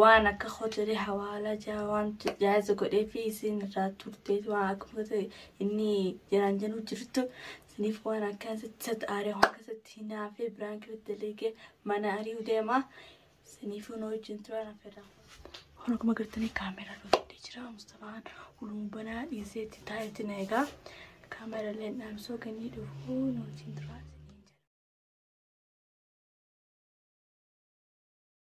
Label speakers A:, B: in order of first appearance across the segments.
A: waan akka hoteelii hawaalaa jaa waan jaaza godhee fi isin irraa turte waan akkuma ta'e inni jiraan jenuu jirtu isiniif waan akkasitti satti aaree waan akkasitti hinaafee biraan keessatti daleegee mana ari'uu deema isiniif hin hojjin turan affeerraa. Kun akkuma gartanii kaameeraa dhufee jira Mustafaan huluun banaa dhiisee itti taa'etti na egaa kaameeraa illee dhaamsoo ganii dhufuu hin hojjin turan.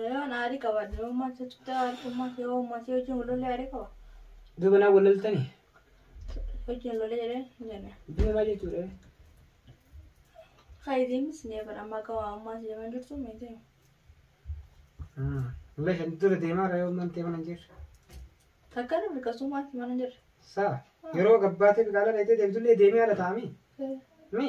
A: Yoon aarii qabaadhe yoon maal jechuudha aarii maal yoo maal hojiin walollee aarii qaba. Iddoo kanaa wal
B: loltani.
A: Hojiin walollee jedhee hin jenne. Iddoo maal jechuudha? Kaayitiinis ni eegan amma akka waan ammaa si jaman jirtu miti.
B: Illee shan dura deemaa raayoo mantee mana hin jirre. Takka
A: ni mirkasuu maal si mana hin jirre. Saa yeroo
B: gabbaatee biqaalaa dheedhee deemtullee deemee ala taa'amee. Mi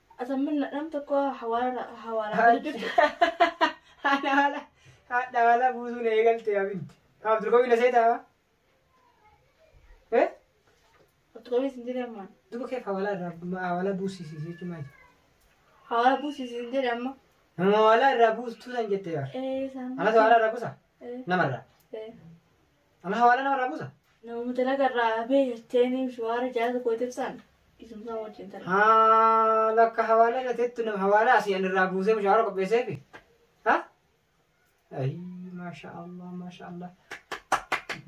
A: Asammanna dham tokko hawaara hawaara Haadha
B: haala haadha haala buusuun eegalte abinti. Kaaf durgomi na seetaa? Eh? Ottu qabii
A: sin jedhe ammaan. Duba keef hawaala irraa
B: hawaala buusisi jechuun maali? Hawaara buusi
A: sin jedhe amma. Nama hawaala irraa
B: buustuu san jette yaa. Ee saan. Anas hawaala
A: irraa buusa?
B: Ee. Namarraa. Ee.
A: Amma hawaala
B: namarraa buusa. Namoota dalaga irraa
A: hafee jetteenii shiwaara jaasa kootiif san isumsaa wajjin tala. Haa bakka
B: hawaala irra teettu nama hawaala asii an irraa buusee mushaara qopheesseefi. Ha? Ayi maasha Allah maasha Allah.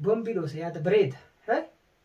B: Bombii dhoose yaada bareeda. Ha?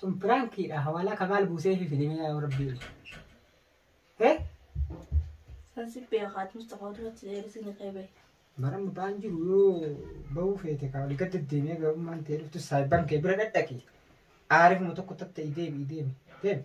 B: Sun piraankiidha. Hawaalaa ka maal buusee fi fidimee yaa rabbii. Eh?
A: Kan si beekaat Mustafaa duratti deebisni qeebee. Baran ba'aan
B: jiru yoo ba'uu feete ka ol gad deddeemee gabummaan ta'e dhuftu saayiban kee bira dhadhaqi. Aarifuma tokko tatta'e deebi'i deemi. Deemi.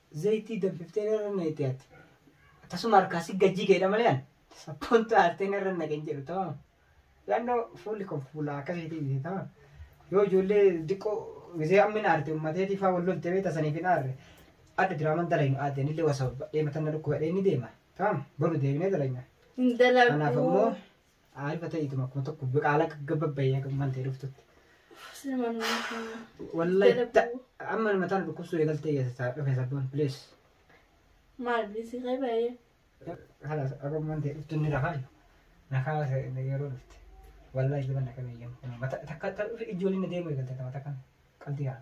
B: Zaytii danfiftee irra naqxee ati. Tasuma harkaa si gajjii keedha malee an. Sappoon taartee irra naqeen jedhu tamam. Yaannoo fuulli koo fuula akkasiitii miti tamam. Yoo ijoollee diqqoo gisee ammin aarte ummateetii faa wal lolte beekta saniif hin aarre. Adda diraaman dalaynu aadde anillee wasa badhee matanna dhukkubadhee ni deema. Tamam boru deebinee dalayna. Hin Kanaaf dalagu. ammoo Aarifa ta'iitum akkuma tokko biqaalaa gaggababbayee akka maal ta'e dhuftutti. Wallahi ta- amma nama taana dhukkubsuu eegaltee geessa dhufe sabboon please.
A: Maal bilisii kee baay'ee. Halas
B: akka maal ta'e dhuftu inni rafaan na kaasa yeroo dhufte. Wallahi jiban akka beeyyamu. Takka ijoolleen na deemu eegalte takka qalbii haa.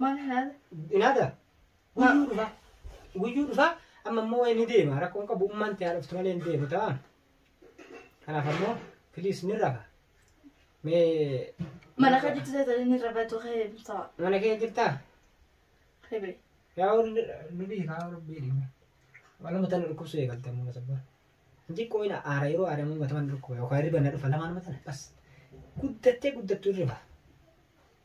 B: Maal haala?
A: Inaata.
B: Guyyuu dhufa. Guyyuu dhufa. Amma immoo wayi ni deema. Rakkoon qabu ummaan ta'aa dhuftu malee ni deemu ta'a. Kanaaf ammoo piliis ni rafa. Mee
A: Mana kan jirtu ta'e inni rafatu kee ta'a. mana kee jirtaa?
B: Kee
A: bee. Yaa
B: nu beekaa rabbii dhimma. Wala mata na dhukkubsu eegalte amma masabba. Inji qooyina aara yeroo aara immoo mata na dhukkuba yookaan hirriba na dhufa lamaan mata na bas. Guddattee guddattuu hirriba.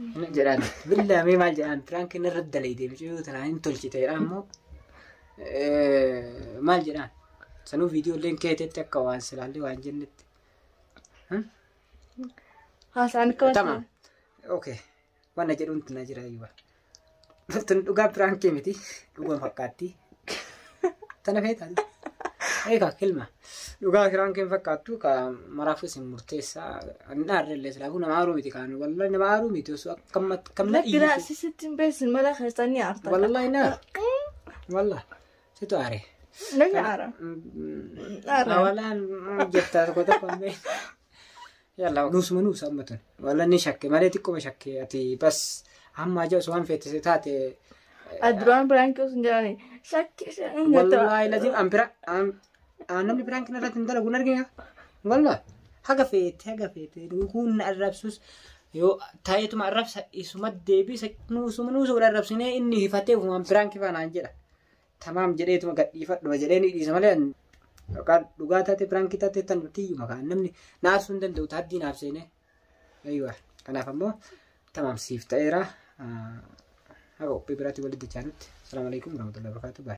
B: Inni jedhaan billaa mee maal jedhaan piraankiin irra dalaydee mucayyoo tanaa hin tolchite jedhaan immoo eh, maal jedhaan sanuu viidiyoo illee keetetti akka waan silaallee waan jennetti.
A: Haasaan akka Tama.
B: Okay. Wanna jedhuun tana jira iyyuu. Tun dhugaa piraankii miti. Dhugaan fakkaatti. Tana feetan. Eegaa kilma. Dhugaa piraankiin fakkaattu ka maraafuu isin murteessaa. Ani dhaarree illee silaafuu nama aaruu miti kaan. Wallahi nama aaruu miti osoo akkam akkam na Lakki raa dhiise. sisitti hin
A: beesin mala keessan ni aartan. Wallahi na.
B: Wallahi. Situ aare.
A: Namni aara. Aara. Awalaan
B: jettaa tokko tokko hin beeku. Yalla nuusuma nuusa amma tun. Walla ni shakke malee xiqquma shakke ati bas amma aja osoo waan feetise taate. Duraan
A: biraankii osoo hin jedhani shakki ishee hin Wallaahi
B: lajin an bira an an namni biraan kana irratti hin dalagu hin argina. Walla haga feete haga feete dhuguun na arrabsus yoo taa'eetuma arrabsa isuma deebisa nuusuma nuusa wal arrabsinee inni hifatee waan biraan kifaa naan jedha. tamaam jedheetuma gadhiifadhuma jedhee ni dhiisa malee an yookaan dhugaa taate piraankii taate tan tiyyuma kaan namni naarsuu hin danda'u taaddii naaf seenee ayyuwa kanaaf ammoo tamaam siif ta'eera haga qophii biraatti walitti dachaanutti salaamu alaikum warahmatullahi wabarakatuh